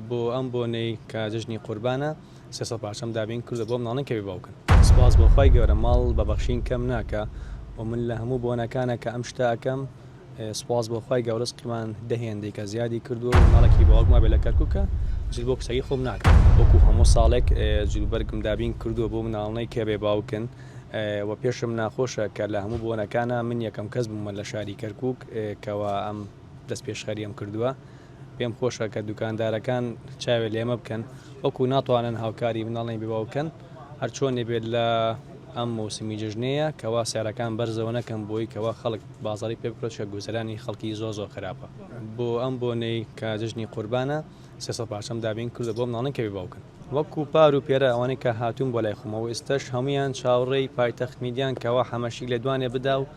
بۆ ئەم بۆنەی کە جەژنی قوربانە سێ سەد پارچەم دابین کردووە بۆ مناڵان کە بێ باوکن. سوپاس بۆ خوای گەورە ماڵ بە بەخشین کەم ناکا و من لە هەموو بۆنەکانا کە ئەم شتە ئەکەم سوپاس بۆ خوای گەوە ڕزقیمان دە هێندەی کە زیادی کردووە و مناڵێکی باوک مابێ لە کەرکوکە جل بۆ کچەکەی خۆم ناکەم وەکو هەموو ساڵێک جلوبەرگم دابین کردووە بۆ مناڵنەی کە بێ باوکن و پێشم ناخۆشە کە لە هەموو بۆنەکانا من یەکەم کەس بوومە لە شاری کەرکوک کەوا ئەم دەست پێشخەریەم کردووە. پێم خۆشە کە دوکاندارەکان چاوێ لێمە بکەن وەکو ناتوانن هاوکاری مناڵی ببا بکەن هەرچۆنێ بێت لە ئەم موسمی جژنەیە کەوا سیارەکان بەرزەوە نەکەم بۆی کەوا خەڵک بازاری پێ بکرۆچکە گوزەرانی خەڵکی زۆ زۆ خراپە بۆ ئەم بۆنەی کە جژنی قوربانە سێسە پارچەم دابین کردە بۆ مناڵن کەوی باوکن وەکو پار و پێرە ئەوانەی کە هاتوون بۆ لای خۆمەوە ئێستش هەمویان چاوڕێی پایتەخت میدیان کەوا حەمەشی لێدوانێ بدا و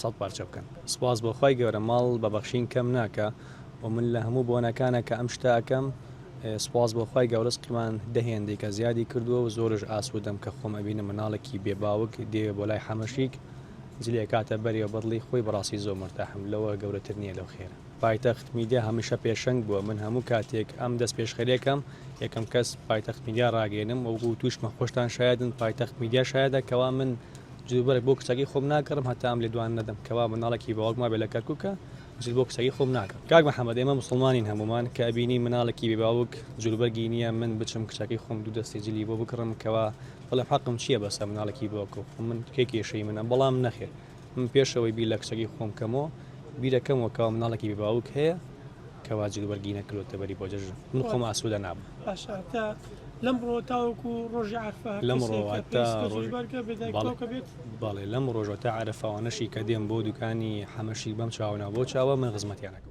سەد پارچە بکەن سوپاس بۆ خوای گەورە ماڵ بە بەخشین کەم ناکا و من لە هەموو بۆنەکانا کە ئەم شتە ئەکەم سوپاس بۆ خوای گەو ڕزقیمان دە هێندێکە زیادی کردووە و زۆرش ئاسوودەم کە خۆم ئەبینم مناڵێکی بێ باوک دێوێ بۆ لای حەمەشیک جلی ئەکاتە بەرێ و بەدڵی خۆی بەڕاستی زۆر مورتاحم لەوە گەورەتر نییە لەو خێرە. پایتەخت میدیا هەمیشە پێشەنگ بووە من هەموو کاتێک ئەم دەست پێشخەری ئەکەم یەکەم کەس پایتەخت میدیا ڕاگەیەنم وەکو وتوشمە خۆشتان شایەدن پایتەخت میدیا شایەدە کەوا من جلوبەرگ بۆ کچەکەی خۆم ناگەڕم هەتا ئەم لێدوانە نەدەم کەوا مناڵێکی باوک مابێ لە کەرکوکە جل بۆ کچەکەی خۆم ناگەڕم کاک محەممەد ئێمە مسلمانین هەمومان کە ئەبینی مناڵێکی بێ باوک جلوبەرگی نییە من بچم کچەکەی خۆم دوو دەستی جلی بۆ بکڕم کەوا بەڵێ حەقم چییە بەسە مناڵێکی باوکە خۆ من کێ کێشەی منە بەڵام نەخێر من پێشەوەی بیر لە کچەکەی خۆم کەمەوە بیرەکەمەوە کەوا مناڵێکی بێ باوک هەیە کەوا جلوبەرگی نەکردوەتە بەری بۆ جەژن من خۆم ئاسوودە نابم لەم ڕۆ تاوەکو ڕۆژی عرفە لەم بەڵێ لەم ڕۆژە تا عرفەوانەشی کە دێم بۆ دوکانی حەمەشی بەم چاونا بۆ چاوە من خزمەتیانەکە